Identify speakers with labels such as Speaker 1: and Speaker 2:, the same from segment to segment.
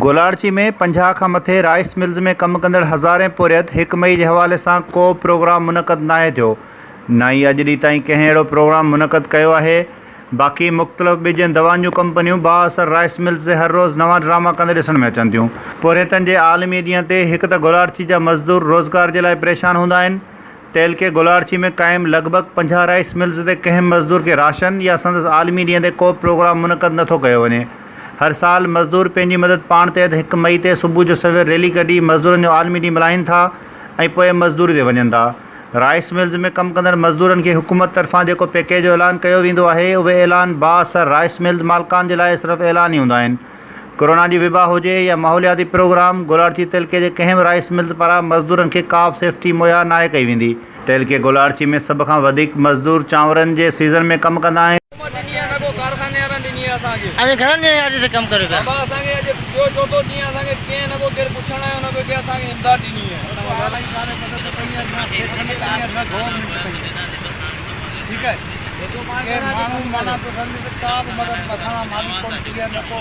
Speaker 1: گولاڙچي ۾ پنجاهه کان مٿي رائيس ملز ۾ ڪم ڪندڙ هزارين پورهيت هڪ مئي جي حوالي سان ڪو به پروگرام منعقد ناهي ٿيو نه ئي اڄ ڏينهن تائين ڪنهن اهڙو پروگرام منعقد ڪيو آهي باقي مختلف ٻجن دوائن جون ڪمپنيون بااثر رائيس ملز تي هر روز نوان ڊراما ڪندي ڏسڻ ۾ اچن ٿيون پورهيتن جي عالمي ڏينهن تي هڪ ته گولاڙچي جا مزدور روزگار جي لاء پريشان هوندا آهن تعلقي گولاڙچي ۾ قائم لڳ ڀڳ پنجاهه رائيس ملز تي ڪنهن به مزدور کي راشن يا سندس عالمي ڏينهن تي ڪوبه پروگرام منعقد نٿو ڪيو وڃي. هر سال مزدور پنهنجي مدد پاڻ تحت هڪ مئي تي صبح جو سوير ريلي ڪڍي مزدورن جو عالمي ڏينهن ملهائين ٿا ۽ پوء مزدوري تي وڃن ٿا. رائيس ملز ۾ ڪم ڪندڙ مزدورن کي حڪومت طرفان جيڪو پيڪيج جو اعلان ڪيو ويندو آهي اهي اعلان بااثر رائيس ملز مالڪان جي لاء صرف اعلان ئي هوندا آهن. ڪورونا جي وبا هجي يا ماحولياتي پروگرام، گولاڙچي تعلقي جي ڪنهن به رائيس ملز پاران مزدورن کي ڪابه سيفٽي مهيا ناهي ڪئي ويندي. تعلقي گولاڙچي ۾ سڀ کان وڌيڪ مزدور چانورن جي سيزن ۾ ڪم ڪندا آهن. اوهين گهڻن ڏينهن
Speaker 2: کان اڄ تائين ڪم ڪريو پيا؟
Speaker 3: ٺيڪ آهي ڪي ماڻهو معنيٰ ٿو سمجهي ته ڪا به مدد مٿان کان مالڪ
Speaker 1: ڪونه ٿي ويا نه ڪو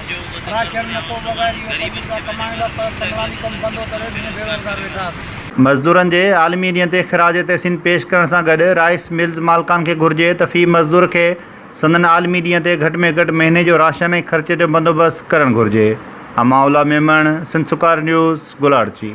Speaker 1: راکين نه ڪو وغير اهو پنهنجي ڪا ڪمائڻ لاء پر پنڊوالي ڪم بندو ڪري ڏينهن بي روزگار ويٺا آهن. مزدورن جي عالمي ڏينهن تي خراج تحسين پيش ڪرڻ سان گڏ رائيس ملز مالڪان کي گهرجي ته في مزدور کي سندن عالمي ڏينهن تي گهٽ ۾ گهٽ مهيني جو راشن ۽ خرچ جو بندوبست ڪرڻ گهرجي امان الله ميمڻ سنڌ سڪار نيوز گولاڙچي.